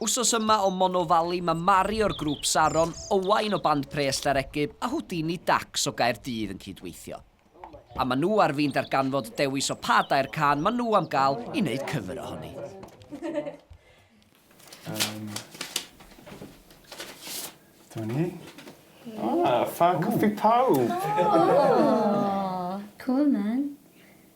Wsos yma o Mono Valley mae Mari o'r grŵp Saron, Owain o band Pres Llarecyb a Houdini Dax o Gaerdydd yn cydweithio. A maen nhw ar fin darganfod dewis o pa dair can maen nhw am gael i wneud cyfer ohoni. Um, Dyma ni. Ah, fan coffi pawb! Oh, cool man.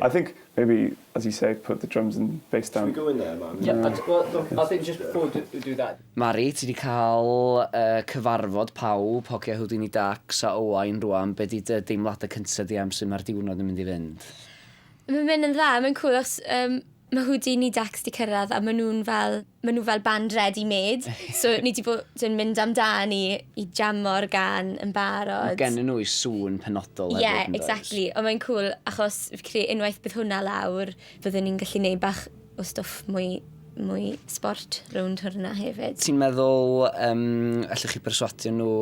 I think maybe, as you say, put the drums and bass down. Should we go in there, Mari? Yeah, I think, I think just before we do that. Mari, ti 'di cael y cyfarfod pawb, hogia Houdini Dax a Owain rwan, be 'di dy deimladau cyntaf di am sut mae'r diwrnod yn mynd i fynd? Mae'n mynd yn dda, mae'n cŵl achos mae Houdini Dax 'di cyrraedd a maen nhw'n fel ma' nw fel band ready made so ni 'di bod yn mynd amdani i jamo'r gan yn barod. Ma' gennyn nw 'u sŵn penodol hefyd yndoes? Ie exactly on' mae'n cŵl achos fi credu unwaith bydd hwnna lawr fyddwn ni'n gallu neud bach o stwff mwy mwy sbort rownd hwrna hefyd. Ti'n meddwl yym allwch chi perswadio nhw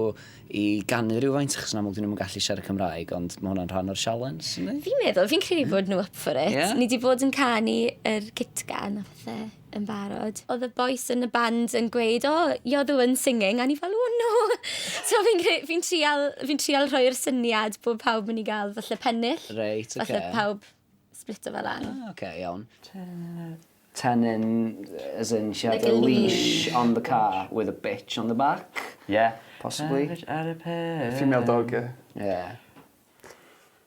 i ganu rywfaint achos yn amlwg 'dyn nhw'm yn gallu siarad Cymraeg ond ma' hwnna'n rhan o'r sialens yndi? Fi'n meddwl fi'n credu bod nhw up for it. Ie? Ni 'di bod yn canu yr Kitgan a phethe. yn barod. Oedd y bois yn y band yn gweud, o, oh, you're the one singing, a ni fel, oh no! so fi'n fi trial, fi trial rhoi'r syniad bod pawb yn i gael falle pennill. Reit, oce. Okay. Falle pawb splito fel an. Ah, oce, okay, iawn. Tenyn, as in, she had like a leash on the car with a bitch on the back. Yeah. Possibly. Ar y pe. Female dog, yeah. Yeah.